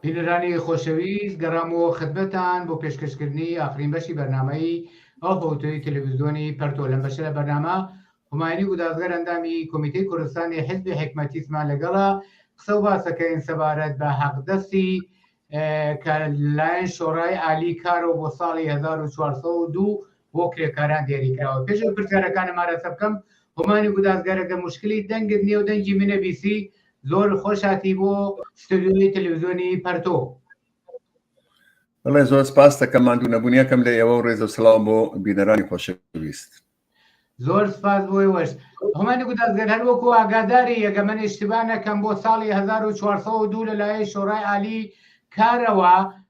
بینەرانی خۆشەویست گەڕامەوە خدمەتان بۆ پێشکەشکردنی ئاخرین بەشی بەرنمەی ئەو هەوتۆی تەلەڤزیۆنی پەرتۆ لەم بەشە لە بەرنامە هوماینی گودازگەر ئەندامی کۆمیتەی کوردستانی حزبی حکمەتیسمان لەگەڵا قسە و باسەکەین سەبارەت بە حەقدەستی کە لایەن شۆڕای عالی کارەوە بۆ ساڵی 1940 بۆ کرێکاران دیاریکراوە پێش پرسیارەکانم مارەسە بکەم هۆمانی گودازگەرەگە مشکلی دەنگت نیێ و دەنگی منە بیسی زۆر خۆش هاتی بۆ ستۆدیۆی تەلەڤزیۆنی پەرتۆ بڵێ زۆر سپاس دەکەم ماندوو نەبوونیەکەم لە ئێوە و ڕێزە سلااو بۆ بینەرانی خۆشەویست زۆر سپاس بۆی وەش هەمانی گوتازگەر هەر وەکو ئاگاداری یەگە من اشتبا نەکەم بۆ ساڵی 1940 دوو لەلایە شۆڕای عالی کارەوە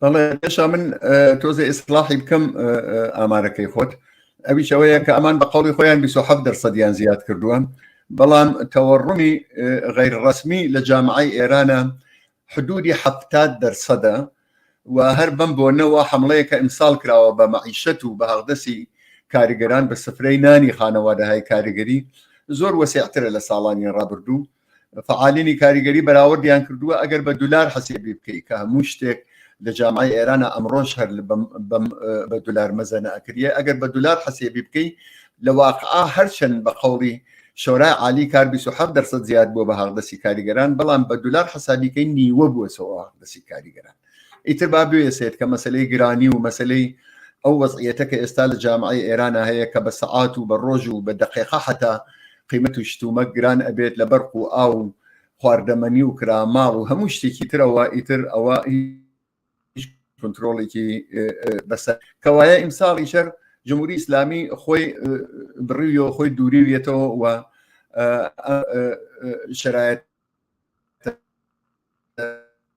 بەڵێ پێشا من تۆزێ ئیسلاحی بکەم ئامارەکەی خۆت ئەویش ئەوەیە کە ئەمان بە قوڵی خۆیان 27 دەرسەدیان زیاد کردووە بەڵام تەوەڕمی غیرڕسمی لە جامعی ئێرانە حدودی ه دەرسەدە و هەر بم بۆنەوە حملەیەکە ئیمساال کراوە بە مەعیشەت و بە هەغدەسی کاریگەران بە سفرەی نانی خانەوادەهای کاریگەری زۆر وەسیعترە لە ساڵانی ڕابردوو فعالینی کاریگەری بەراوردیان کردووە ئەگەر بە دولار حەسێبی بکەیت کە هەموو شتێک لە جامعی ئێرانە ئەمڕۆژ هەر بە دولار مەزەنە ئەکریە ئەگەر بە دولار حەسێبی بکەی لە واقعا هەرچەند بە قوڵی شۆرای عالی کار 27 دەرسە زیاد بووە بە هاغدەسی کاریگەران بەڵام بە دولار حسابیکەی نیوە بووە سەوە دەسی کاریگەران ئیتر با بێسێت کە مەسلەی گرانی و مەسلەی ئەو وەزعیەتە کە ئێستا لە جامعی ئێرانە هەیە کە بە سەعات و بە ڕۆژ و بە دەقێقا حتا قیمەت و شتومە گران ئەبێت لە بەرق و ئاو و خواردەمەنی و کرا ماڵ و هەموو شتێکی ترەوە ئیتر ئەوە کنترۆڵێکی بەسەر کەوایە ئیمساڵی شەر جمهوری ئیسلامی خۆی بڕوی و خۆی دووریویەتەوە و شرایەت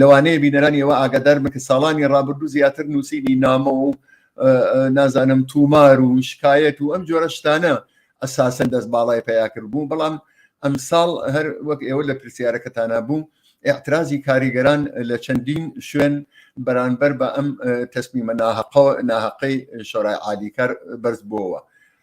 لەوانەیە بینەرانی ئێوە ئاگادار بن کە ساڵانی ڕابردوو زیاتر نووسینی نامە و نازانم تومار و شکایەت و ئەم جۆرە شتانە ئەساسەن دەست باڵای پیاکرد بوو بەڵام ئەمساڵ هەر وەک ئێوە لە پرسیارەکەتانە بوو اعترازی کاریگەران لە چەندین شوێن بەرانبەر بە ئەم تەسمیمە ناهقە ناهقەی شۆرای عادیکار بەرز بووەوە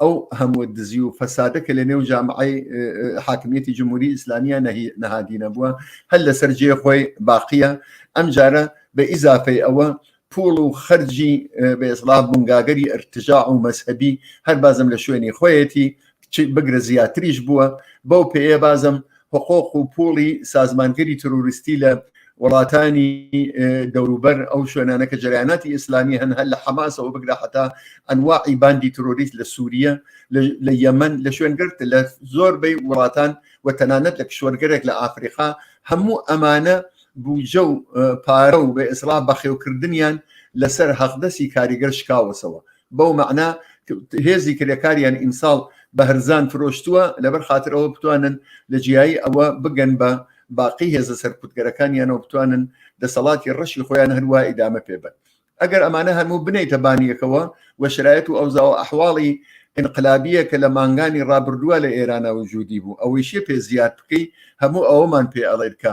ئەو هەموو دزی و فەسادە کە لە نێو جامعی حاکمیەتی جمهوری ئیسلامیە نەهادینە بووە هەر لەسەر جێ خۆی باقیە ئەم جارە بە ئیزافەی ئەوە پوڵ و خەرجی بێزڵا بنگاگەری ئەرتجا و مەسەبی هەر بازم لە شوێنی خۆیەتی بگرە زیاتریش بووە بەو پێەیە بازم حقوق و پوڵی سازمانگەری تروریستی لە وڵاتانی دەوروبەر ئەو شوێنانە کە جریاناتی ئیسلامی هەن هەر لە حەماسەوە بگرە حتا ئەنواعی باندی تروریست لە سووریە لە یەمەن لە شوێنگرت لە زۆر بەی وڵاتان و تەنانەت لە کشوەرگەرێک لە ئافریقا هەموو ئەمانە بوجە و پارە و بە ئیسرا بەخێوکردنیان لەسەر هەقدەسی کاریگەر شکاوەسەوە بەو مەعنا هێزی کرێکاریان ئیمساڵ بە هەرزان فرۆشتووە لەبەر خاطر ئەوە بتوانن لە جیایی ئەوە بگەن بە باقی هێزە سەرکوتگەرەکانیانەوە بتوانن دەسەڵاتی ڕەشی خۆیان هەروە ئیدامە پێبن ئەگەر ئەمانە هەموو بنیتە بانیەکەوە و شرایەت و ئەوزاوە ئەحواڵی انقلابیە کە لە مانگانی ڕابردووە لە ئێرانە و جوودی بوو ئەوەیشی پێ زیاد بکەی هەموو ئەوەمان پێ ئەڵێت کە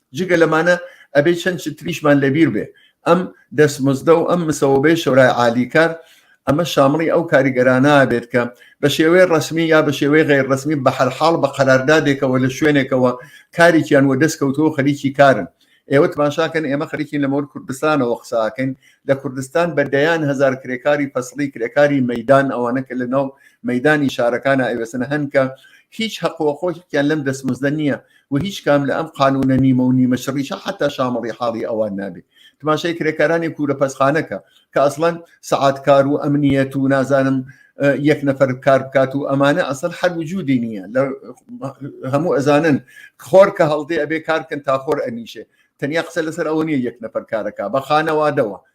جگە لەمانە ئەبێ چەند چتریشمان لەبیر بێ ئەم دەستمزدە و ئەم مسەوەبەی شەورای عالیکار ئەمە شامڵی ئەو کاریگەرانە بێت کە بە شێوەی ڕسمی یا بە شێوەی غیر ڕسمی بە هەرحاڵ بە قەراردادێکەوە لە شوێنێکەوە کارێکیان وە دەست کەوتەوە خەریکی کارن ئێوە تماشاکەن ئێمە خەریکین لەمەور کوردستانەوە قساکەین لە کوردستان بە دەیان هزار کرێکاری فەسڵی کرێکاری مەدان ئەوانە کە لە ناو مەدانی شارەکانە ئەوێسن هەنکە هیچ حقوەخۆشیان لەم دەستمزدە نییە و هیچ کام لە ئەم قانونە نیمە و نیمە شڕیشە حتا شامەڵی حاڵی ئەوان نابێت تماشای کرێکارانی کورە پەسخانەکە کە ئەسڵەن سعاتکار و ئەمنیەت و نازانم یەک نەفەر کار بکات و ئەمانە ئەسڵ هەر وجودی نییە لە هەموو ئەزانن خۆر کە هەڵدێ ئەبێ کارکن تا خۆر ئەنیشێ تەنیا قسە لەسەر ئەوە نیە یەک نەفەر کارەکە بە خانەوادەوە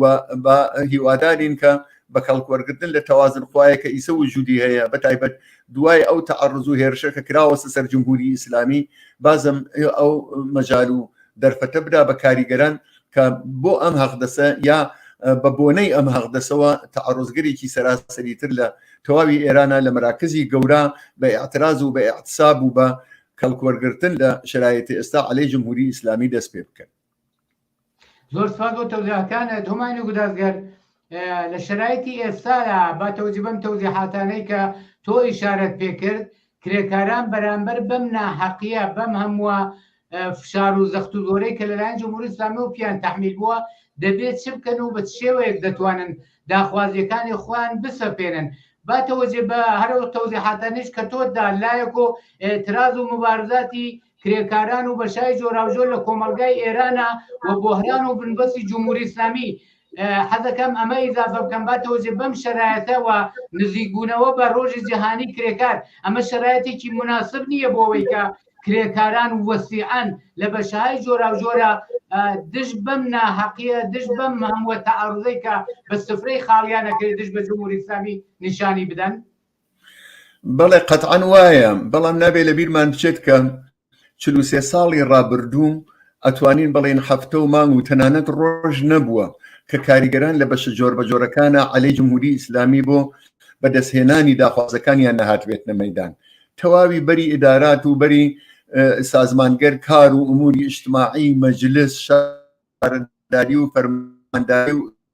و با هیوادارین کە بە کەڵکوەرگرتن لە تەوازن خوایە کە ئیسە وجودی هەیە بە تایبەت دوای ئەو تەعەڕز و هێرشە کە کراوەسە سەر جمهوری ئیسلامی بازم ئەو مەجال و دەرفەتە بدا بە کاریگەران کە بۆ ئەم هەقدەسە یا بە بۆنەی ئەم هەقدەسەوە تەعەڕزگەرێکی سەراسەری تر لە تەواوی ئێرانە لە مراکزی گەورە بە اعتراز و بە اعتصاب و بە کەڵکوەرگرتن لە شرایەتی ئێستا عەلەی جمهوری ئیسلامی دەست پێ بکەن زۆر سپاس بۆ تەوزیاتانت هەمای نەگودازگەر لە شرایتی ئێستادا با تەوجی بەم تەوزیحاتانەی کە تۆ ئیشارەت پێکرد کرێکاران بەرامبەر بەم ناحەقیە بەم هەمووە فشار و زەخت و زۆرەی کە لەلایەن جمهوری ئسلامی و پیان تحمیل بووە دەبێت چ بکەن و بە شێوەیەک دەتوانن داخوازیەکانی خۆیان بسەپێنن با تەوەجێ بە هەرو تەوزیحاتانیش کە تۆدا لایەک و تراز و مبارزاتی کرێکاران و بەشای جۆراوجۆر لە کۆمەڵگای ئێرانە و بۆهران و بنبەستی جمهوری ئیسلامی حەزەکەم ئەمە ئیزافە بکەم با تۆزێ بەم شەرایەتەوە نزیکبوونەوە بە ڕۆژی جیهانی کرێکار ئەمە شەرایەتێکی مناسب نییە بۆەوەی کە کرێکاران و وەسیعان لە بەشهای جۆراوجۆرە دژ بەم ناحەقیە دژ بەم هەمووە تەعاڕزەی کە بە سفرەی خاڵیانەکەی دژ بە جمهوری ئیسلامی نیشانی بدەن بەڵێ قەتعەن وایە، بەڵام نابێ لە بیرمان بچێت کە چل و سێ ساڵی ڕابردوو ئەتوانین بڵێین هەفتە و مانگ و تەنانەت ڕۆژ نەبووە کە کاریگەران لە بەشە جۆربەجۆرەکانە عەلەی جمهوری ئیسلامی بۆ بەدەستهێنانی داخوازەکانیان نەهاتبێتنە مەیدان تەواوی بەری ئیدارات و بەری سازمانگەر کار و ئوموری ئیشتماعی مەجلس شارداری و فەرمانداری و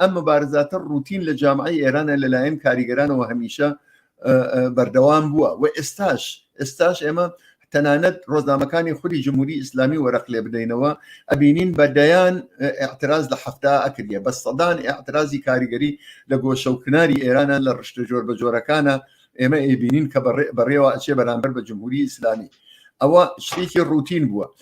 ئەم مبارزاتە ڕوتین لە جامعی ئێرانە لەلایەن کاریگەرانەوە هەمیشە بەردەوام بووە و ئێستاش ئێستاش ئێمە تەنانەت ڕۆزنامەکانی خولی جمهوری ئیسلامی وەرەق لێ بدەینەوە ئەبینین بە دەیان اعتراز لە هەفتا ئەکردە بە سەدان اعترازی کاریگەری لە گۆشە و کناری ئێرانە لە ڕشتە جۆر بە جۆرەکانە ئێمە ئەبینین کە بەڕێوە ئەچێ بەرامبەر بە جمهوری ئیسلامی ئەوە شتێکی ڕوتین بووە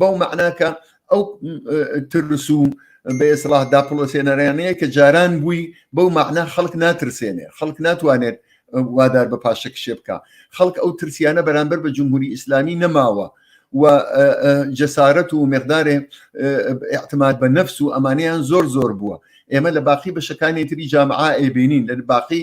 بەو مەعناکە ئەو ترس و بەێسڵاه داپڵۆسێنەرانەیە کە جاران بووی بەو مەعنا خەڵک ناترسێنێ خەڵک ناتوانێت وادار بە پاشە کشێ بکە خەڵک ئەو ترسیانە بەرامبەر بە جمهوری ئیسلامی نەماوە و جەسارەت و مقدارێ احتماد بە نەفس و ئەمانیان زۆر زۆر بووە ئێمە لە باقی بەشەکانی تری جامعا ئەبینین لە باقی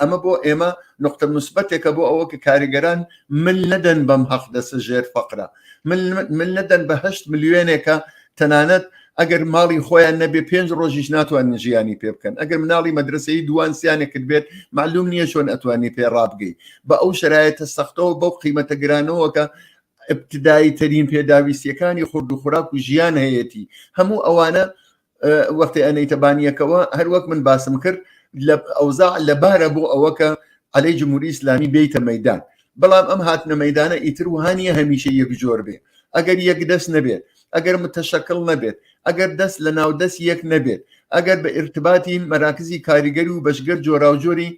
ئەمە بۆ ئێمە نقطە مسبەتێکە بۆ ئەوە کە کاریگەران مل نەدەن بەم هەق دەسە ژێر فەقرە مل نەدەن بە هەشت ملیێنێکە تەنانەت ئەگەر ماڵی خۆیان نەبێ پێنج ڕۆژیش ناتوانن ژیانی پێ بکەن ئەگەر مناڵی مەدرسەی دووان سیانێکت بێت معلوم نییە چۆن ئەتوانی پێ ڕابگەی بە ئەو شرایەتە سەختەوە بەو قیمەتە گرانەوەکە ابتدایی ترین پێداویستیەکانی خورد و خوراک و ژیان هەیەتی هەموو ئەوانە وەختی ئەنەیتە بانیەکەوە هەروەک من باسم کرد لە ئەوزا لەبارە بۆ ئەوەکە عەلەی جمهوری ئیسلامی بیتە مەدان بەڵام ئەم هاتنە مەدانە ئیتر وهانیە هەمیشە یەک جۆر بێ ئەگەر یەک دەست نەبێت ئەگەر متەشەکل نەبێت ئەگەر دەست لە ناو دەست یەک نەبێت ئەگەر بە ئرتباتی مەراکزی کاریگەری و بەشگەر جۆراوجۆری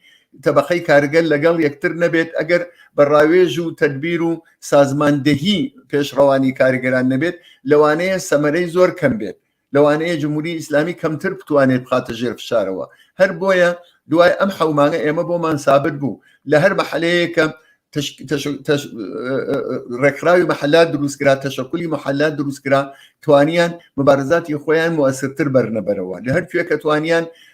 تەبقەی کارگەر لەگەڵ یەکتر نەبێت ئەگەر بە ڕاوێژ و تدبیر و سازماندەهی پێشڕەوانی کارگەران نەبێت لەوانەیە سەمەرەی زۆر کەم بێت لەوانەیە جمهوری ئیسلامی کەمتر بتوانێت بخاتە ژێر فشارەوە هەر بۆیە دوای ئەم حەومانە ئێمە بۆمان سابت بوو لە هەر مەحلەیەکە ڕێکخراوی مەحلا دروستکرا تەشەکولی مەحلا دروستکرا توانیان مبارزاتی خۆیان موەسرتر بەرنەبەرەوە لە هەر کوێکە توانیان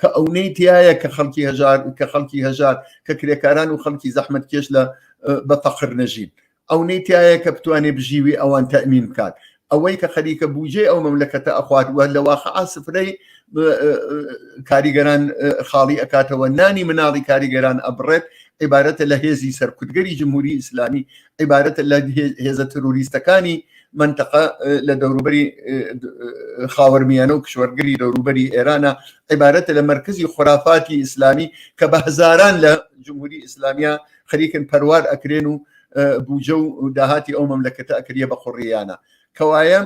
کە ئەونەی تایە کە خەڵکی هەژار کە خەڵکی هەژار کە کرێکاران و خەڵکی زەحمت کێش لە بە فەقر نەژین ئەونەی تایە کە بتوانێت بژیوی ئەوان تەمین بکات ئەوەی کە خەریکە بوجێ ئەو مەملەکەتە ئەخوات وە لە واقع سفرەی کاریگەران خاڵی ئەکاتەوە نانی مناڵی کاریگەران ئەبڕێت عیبارەتە لە هێزی سەرکوتگەری جمهوری ئیسلامی عیبارەتە لە هێزە تروریستەکانی منتەقە لە دەوروبەری خاوەرمیانە و کشوەرگری دەوروبەری ئێرانە عیبارەتە لە مرکزی خورافاتی ئیسلامی کە بە هزاران لە جمهوری ئیسلامیا خەریکن پەروار ئەکرێن و بوجە و داهاتی ئەو مەملەکەتە ئەکریە بە خوڕیانە کەوایە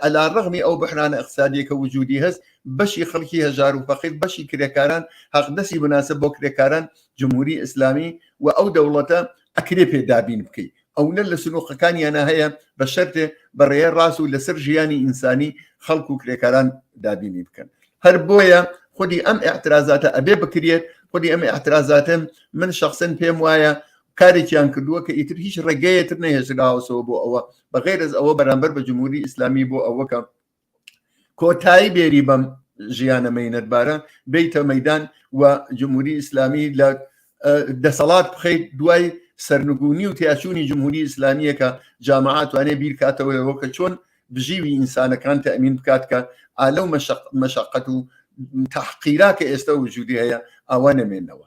ئەلا ڕغمی ئەو بحرانە اقتصادیەکە وجودی هەست بەشی خەڵکی هەژار و فەقیر بەشی کرێکاران حەقدەسی بناسە بۆ کرێکاران جمهوری ئیسلامی و ئەو دەوڵەتە ئەکرێ پێ دابین بکەی ئەونە لە سنوقەکانیانە هەیە بە شەرێ بەڕێە ڕاست و لەسەر ژیانی ئینسانی خەڵکو و کرێکاران دابینی بکەن هەر بۆیە خودی ئەم اعترازاتە ئەبێ بکرێت خودی ئەم اعترازاتن من شخصن پێم وایە کارێکیان کردووە کە ئیتر هیچ ڕێگەیەتر نەهێشراوەسەوە بۆ ئەوە بەغێرز ئەوە بەرامبەر بە جمهوری ئیسلامی بۆ ئەوەکە کۆتایی بێری بەم ژیانە مینەتبارە بیتە مەدان و جمهوری ئیسلامی لە دەسەڵات بخیت دوای سەرنگونی و تیاچوونی جمهوری ئیسلامیەکە جامعاتوانێ بیرکاتەوەەوە کە چۆن بژیوی ئینسانەکان تەمین بکات کە ئالە و مەشقەت و تحقیرا کە ئێستا وجودی هەیە ئاوا نەمێنەوە